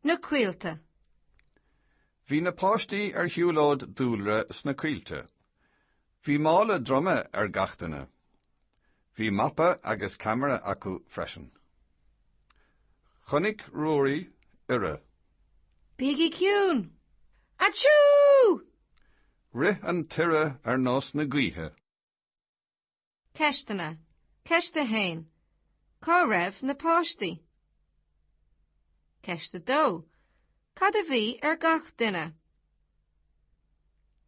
Na Coillte. Bhí na páistí ar shiúlóid dúlra sna coillte. Bhí mála droma ar gach duine. Bhí mapa agus ceamara acu freisin. Chonaic Ruairí iora. Bígí ciúin! Aitisiú! Rith an t-iora ar nós na gaoithe. Ceisteanna, Ceist 1, Cá raibh na páistí? Ceist 2, Cad a bhí ar gach duine?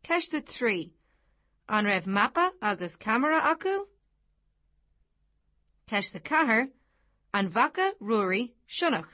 Ceist 3, An raibh mapa agus ceamara acu? Ceist 4, An bhfaca Ruairí sionnach?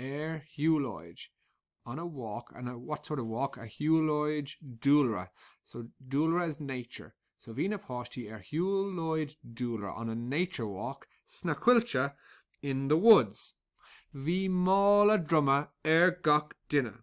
ar shiúlóid, on a walk, and what sort of walk, ar shiúlóid dúlra, so dúlra is nature, so bhí na páistí ar shiúlóid dúlra, on a nature walk, sna coillte, in the woods. Bhí mála droma ar gach duine.